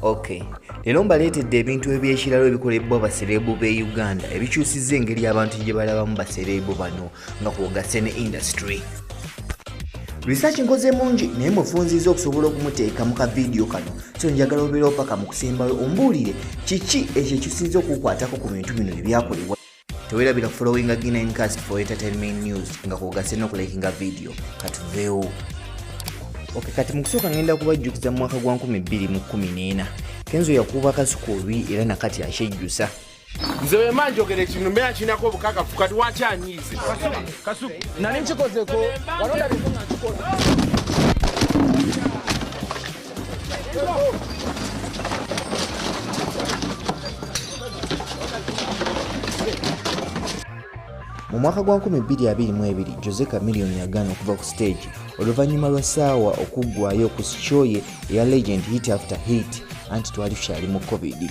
Okay. Leero mbaleetedde ebintu eby'ekiralo ebikolebwa basereebu b'e Uganda ebikyusizza engeri abantu gye balabamu basereebu bano nga kw'ogasse ne indasitule. Research nkoze mungi naye mufunziza okusobola okumuteeka mu kavidiyo kano so njagala obeerewo paka mu kusembayo ombuulire kiki ekyo ekisinza okukwatako ku bintu bino ebyakolebwa. tewerabira followinga ginencast for entertainment news nga kwogase n'okulekinga vidiyo katuveewo ok kati mu kusooka ngenda kubajjukiza mu mwaka gwa 214 kenzo yakuuba kasuku olwi era nakati akyejjusa nze wema njogera ekintu mbeera kirinako obukakafu kati wakyanyiize nali nkikozeko walonda bikona kikola mu mwaka gwa 2022 jose camilion yagaana okuva ku siteegi oluvannyuma lwa saawa okuggwayo ku sikyoye eya legend hit after hit anti twali tukyali mu covid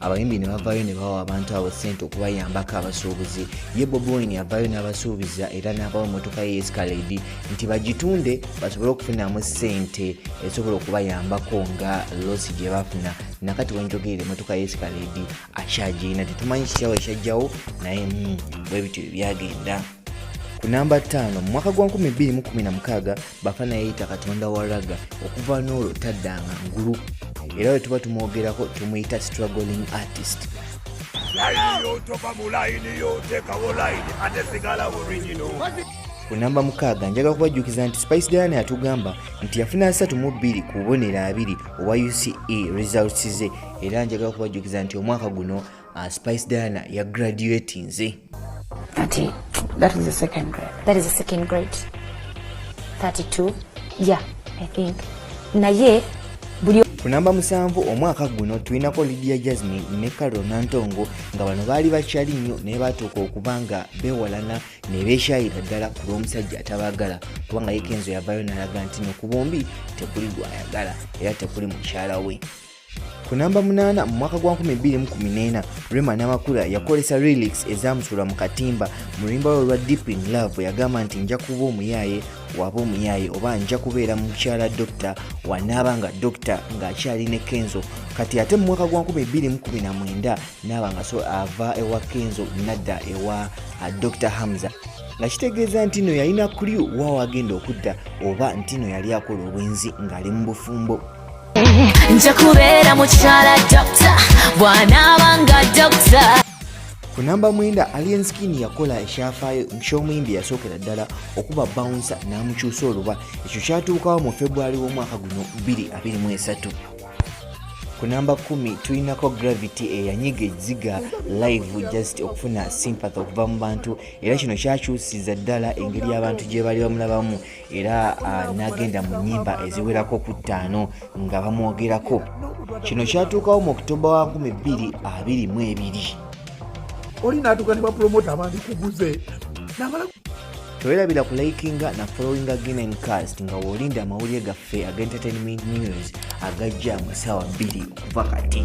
abayimbi ne bavaayo ne bawa abantu abo ssente okubayambako abasuubuzi ye boboin avaayo n'abasuubiza era n'abawa emmotoka ye escalade nti bagitunde basobole okufunamu ssente esobola okubayambako nga losi gye bafuna nakati wenjogerera emmotoka ye escalade akyagirina tetumanyi kityawo ekyajjawo naye hmm, bwe bityo bye byagenda ku namba ttaano mu mwaka gwa 2016 bafana yayita katonda wa raga okuva n'olwo taddanga ngulu era bwe tuba tumwogerako tumuyita struggling artist ku namba mukaaga njagala kubajjukiza nti spice diana yatugamba nti yafuna asatu mu bbiri ku bubonero abiri obwa uce results ze era njagala kubajjukiza nti omwaka guno Uh, Spice Diana ya graduate nze. Ati, that is the second grade. That is the second grade. 32. Yeah, I think. Naye buli ku namba musanvu omwaka guno tulinako lidia jasmine ne carol nantongo nga bano baali bakyali nnyo naye batuuka okuba nga bewalana ne beekyayira ddala ku lw'omusajja atabaagala kubanga yekenzo yavayo nalaga nti no ku bombi tekuli gwayagala era tekuli mukyala we ku namba munaana mu mwaka gwa 2014 rema namakula yakolesa relix ezamusuula mu katimba mu luyimba lwe lwa deep in love yagamba nti nja kuba omuyaaye waba omuyaaye oba nja kubeera mukyala dokita wanaaba nga dokita ng'akyali ne kenzo kati ate mu mwaka gwa 2019 naaba nga so ava ewa kenzo nadda ewa uh, dokita hamza nga kitegeeza nti no yalina kulyu waawo agenda okudda oba nti no yali akola obwenzi ng'ali mu bufumbo nja kubeera mukyala dokita bwanaaba nga dokita ku namba mwenda alien skin yakola ekyafaayo ky'omuyimbi yasookera ddala okuba bawunsa n'amukyusa oluba ekyo kyatuukawo mu february w'omwaka guno 223 ku namba 1 tulinako gravity eyanyiga ekiziga live just okufuna sympathy okuva mu bantu era kino kyakyusiza ddala engeri abantu gye baali bamulabamu era ah, n'agenda mu nnyimba eziwerako ku ttaano nga bamwogerako kino kyatuukawo mu oktoba wa 222 oli n'atuuka ne bapulomota abandi kuguze tewelabira ku likinga na followinga ginen cast nga wolinda amawulire gaffe aga entertainment news agajja mu ssaawa 2 okuva kati